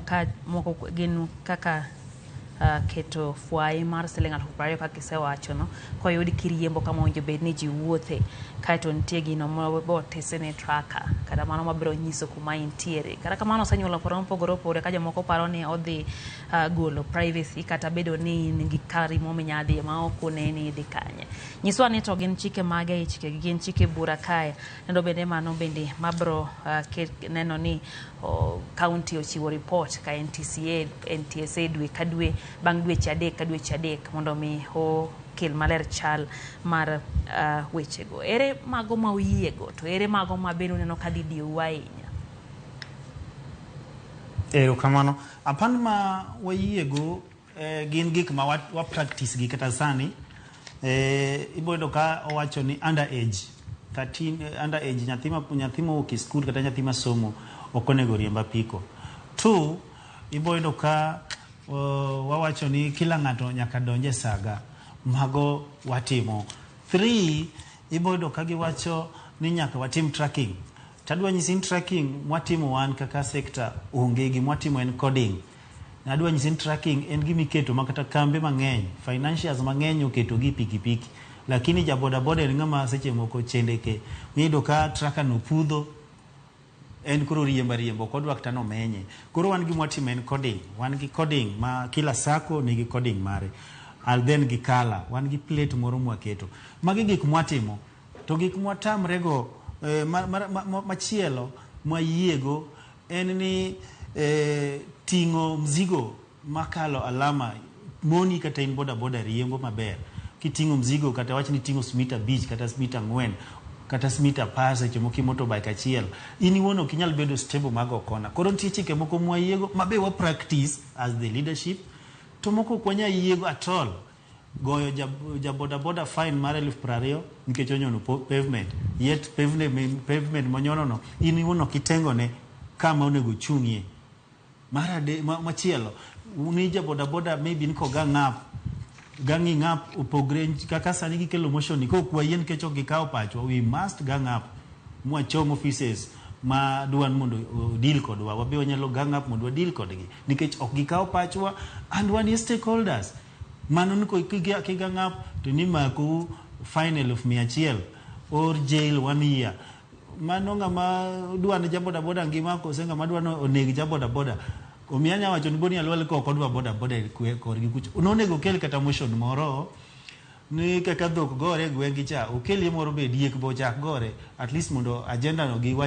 Ka moko gin kaka uh, keto fwayi mar siling alufu piero ariyo kaka isewachono koyud kiriembo kama owinjo bed ni ji wuothe kaeto nitie gino motisi ni traka kata mano mabiro nyiso kuma intiere kata kamano osenyuolo paro mopogore opogore ka jomoko paro ni odhi uh, golo privacy kata bedo ni in gi kari mominya dhiye ma ok oneni idhi kanye nyiswa ni to gin chike mage e chikegi gin chike bura kae kendo bende mano bende mabro uh, neno ni oh, county oh, ochiwo report ka NTCA, NTSA dwe ka dwe bang' dweche adek ka dweche adek mondo mi o kel maler chal mar uh, wechego. Ere mago ma uyiego to ere mago ma bende uneno ka dhi diyowa ahinya? Erokamano. Apan ma wayiego Eh, gin gik ma wa, wa practice gi kata sani eh, iboyudo ka owacho ni under age 13 eh, under age nyathi ma nyathi mowuok e skul kata nyathi masomo ok onego oriemb apiko two iboyudo ka uh, wawacho ni kila ng'ato nyaka donje saga mago watimo three iboyudo ka giwacho ni nyaka watim tracking tadwa nyisi ni tracking mwatimo wan kaka sekta onge gimwatimo en coding Nadwa nyisi ni tracking en gima iketo ma kata kambe mang'eny, financiers mang'eny oketo gi pikipiki. Lakini ja boda boda en ng'ama seche moko chendeke. Niyudo ka tracker no pudho, en koro riembo ariemba ok odwa kata nomenye. Koro wan gima watimo en coding. Wan gi coding ma kila sacco nigi coding mare. Al then gi color. Wan gi plate moro mwaketo. Magi gik mwatimo. To gik mwatamrego, eh, ma, ma, ma, ma, machielo mwayiego en ni eh, ting'o mzigo makalo alama moni kata in boda boda riembo maber kiting'o mzigo kata wach ni ting'o smita abich kata smita ang'wen kata smita apar seche moko i motorbike achiel in iwuon ok inyal bedo stable mag okona koro nitie chike moko mwayiego mabe wa practice as the leadership to moko ok wanya yiego at all goyo ja, ja boda boda fine mar elfu piero ariyo nikech onyono po- pavement yet pavement, pavement monyonono in iwuon ok itengone kama onego ochung'ie mar ade ma- machielo ni ja boda boda maybe niko ga ng'ap ga ng'i ng'ap opogre nch- kaka sani gikelo motion ni kok wayie nikech ok gikawo pachwa we must ga ng'ap mwachom offices ma dwan mondo o- deal kodwa wabe wanyalo gang up mondo wa deal kodgi nikech ok gikawo pachwa and wan e stakeholders Mano ni ko- kiga- kiga ng'ap to nimakou fine eluf mia achiel or jail one year. Mano ng'ama dwa ne ja bodaboda ngima kose ng'ama dwa ni oneg ja bodaboda. Omiyo anya wacho ni Boni Alwal ka ok odwa bodaboda e kwe- korgi kucho. Nonego okel kata motion moro ni kaka dhok gore e gweng'gi cha, okelie moro be diek be ochak gore at least mondo agenda no gi wach